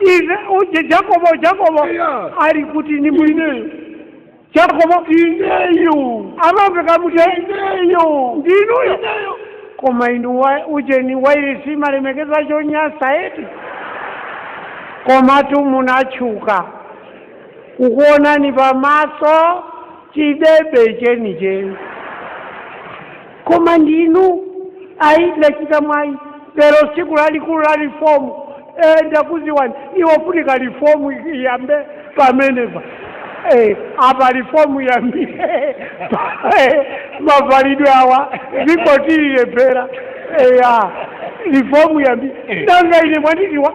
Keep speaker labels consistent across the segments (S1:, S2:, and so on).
S1: ive uje jakobo jakobo Yeah. ali kuti ni mwini ineyo jakobo ineyo amamveka muti ineyo ndinuyo ineyo koma inu wa- ujeni wairesi malemekeza chonyasayi eti komatu munatchuka kukuonani pamaso chidebe chenicheni koma ndinu ayi ndachita mwayi lero tsiku lalikulu la rifomu eh, ndakuziwani iyo funika rifomu iyambe pamenepa eh, apa rifomu iyambe eh, mavalidwe awa zikutilephera eh, ah, rifomu iyambe nanga ine mwandidziwa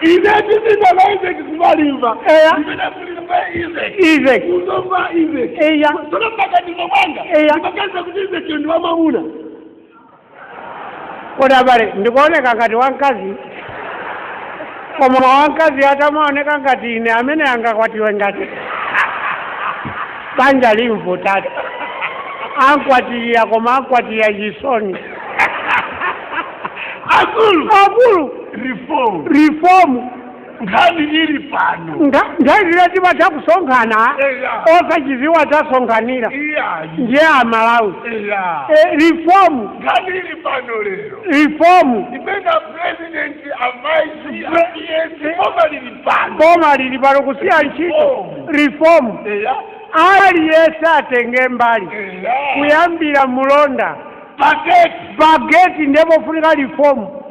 S2: ine ndipita kwa izeki kumalimba Eya. ndipita
S1: kulimba izeki izeki kuzomba izeki
S2: eya tsono mmaganizo mwanga Eya. ndimaganiza kuti izeki ndi wamamuna
S1: kodi abale ndikuoneka ngati wamkazi koma wamkazi atamaoneka ngati ine amene angakwatiwe ngati banja limvutatu ankwatira koma ankwatira chisoni akulu akulu reform reform
S2: nkhani ili pano nga nthawi zina
S1: timatha kusonkhana Eya. osachidziwa tasonkhanira iyayi ndiye amalawi eya Eh, reform nkhani
S2: ili pano lero
S1: reform imene
S2: president amaisi apiyesi koma lili
S1: pano boma lili pano kusiya ntchito reform eya aliyense atenge mbali eya kuyambira mulonda pageti pageti ndiye pofunika
S2: lifomu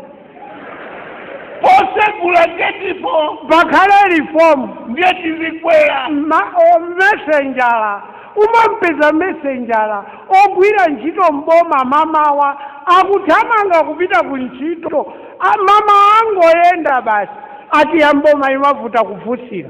S2: posegula getipo pakhale
S1: rifomu ndiye tizikwera
S2: Ma- o-
S1: mesenjala umampeza mesenjala ogwira ntchito mboma mamawa akuthamanga kupita ku ntchito A- mama angoyenda basi ati ya mboma imavuta kufunsira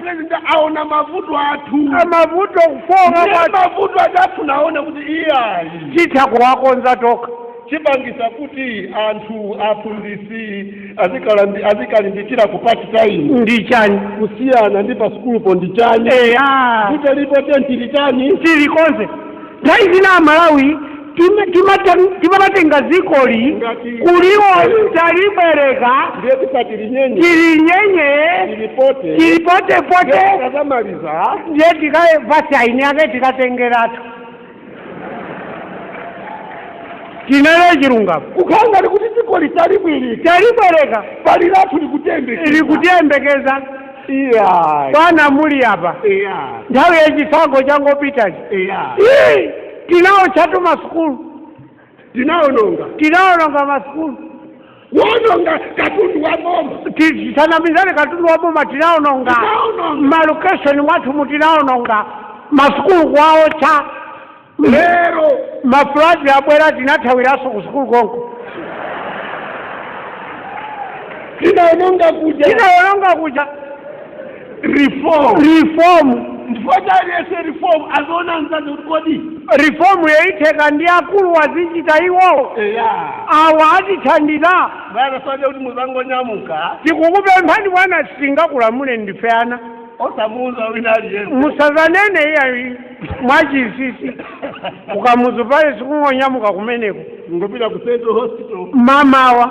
S2: president aona mavuto athu
S1: amavuto kufoka Ndiye kuti mavuto
S2: athu naona kuti iyayi titha kuwakonza
S1: tokha chipangisa kuti
S2: anthu aphunzitsi azikalambi- azikalimbikira kupati tayimu ndi
S1: chani kusiyana ndi
S2: pa sukulupo ndi chani eya kuti lipo titani ndi chani tilikonze
S1: nthawi zina amalawi Tim- timata- timatenga dzikoli Ngati- kuliwo talibwereka ndiye
S2: tisati linyenye tili nyenye lilipote tili
S1: potepote tikazamaliza
S2: ndiye tikaye
S1: basi aini yake tikatengeratu tinene chilungamo kukhala ni kuti
S2: dziko litalibwirika
S1: talibwereka pali
S2: lathu likutembeka
S1: likutiyembekeza iya bwana muli apa iya nthawi yachisankho changopitachi iya Ii! tinaotchatu masukulu tinaononga tinaononga masukulu
S2: kuononga katundu wa boma tisanamizane
S1: katundu wa boma tinaononga malokeshoni mwathu mu tinaononga masukulu kuwaotcha
S2: lero
S1: mafuladzi abwera tinathawiranso ku sukulu
S2: konko tinaononga kuja tinaononga kuja
S1: reform reform chifukwa cha
S2: aliyense reform aziona mzake kuti kodi
S1: reform yayitheka ndi akuluwa azichita iwowo eya awa atithandiza bwana soja kuti
S2: muzangonyamuka
S1: tikukupemphani bwana sitingakulamule ndife ana
S2: osamuuza wina aliyense
S1: musazanene iyayi mwachisisi mukamazapale nkungonyamuka kumeneko kungopita ku central
S2: hospital mamawa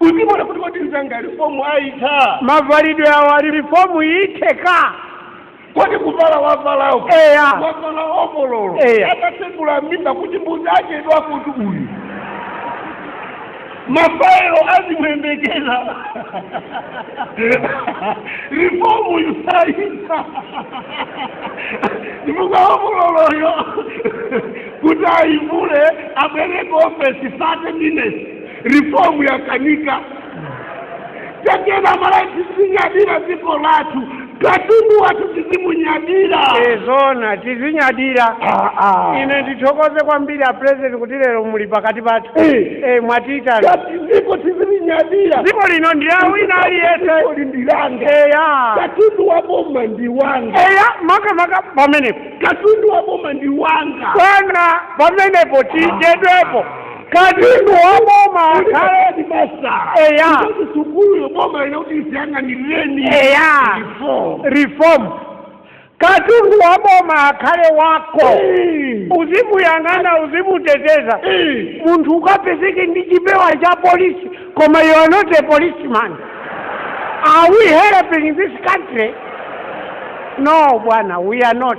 S2: uzimuona kuti kodi mzanga reform ayitha mavalidwe
S1: awo ali reform itheka
S2: kodi kuvala wavalawo Eya. wavala ovololo Eya. atatsegula mimba kuti mbuzi yachedwa kuti uyu mafaelo azimuyembekeza reform yusayisa ndimuka ovololoyo kuti ayivule abwereke ofesi 30 minutes reform yakanika take number tizinyadira dziko lathu katundu wathu tizimunyadira
S1: zoona tizinyadira Ah, ah. ine ndithokoze kwambiri a president kuti lero muli pakati pathu Eh. Eh, mwatiitana kuti
S2: dziko tizilinyadira dziko lino ndi la
S1: wina Dziko aliyense lino ndi langa
S2: eya katundu wa boma ndi wanga eya makamaka
S1: pamenepo katundu wa boma
S2: ndi wanga bwana
S1: pamenepo tichedwepo katundu wa boma akhale
S2: ndi amasamala Eya. Kuti sukulu boma linakuti iziyang'anireni Eya. Reform.
S1: reform katundu wa boma akhale wako Eh. uzimuyang'ana uzimuteteza Eh. munthu ukapezeke ndi chipewa cha polisi koma you are not a policeman are we helping this country no bwana we are not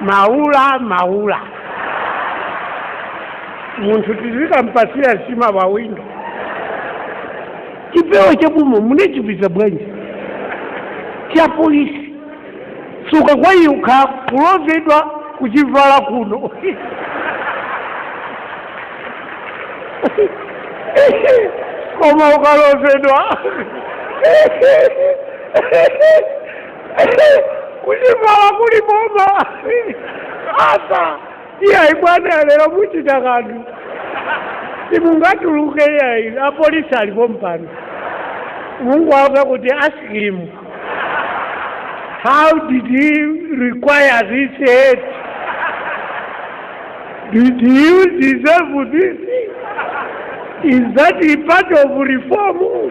S1: maula maula munthu tizikampasira nsima pawindo chipewa cha boma munachipeza bwanji cha polisi sungakwanitse pokha kulozedwa kuchivala kuno koma ukalozedwa kuchimala kuli boma apa iyayi bwana lero muchita kanthu simungatuluke iyayi apolisi alipo mpano mungwava kuti ask him how did he acquire this aid did you deserve this is that a part of reform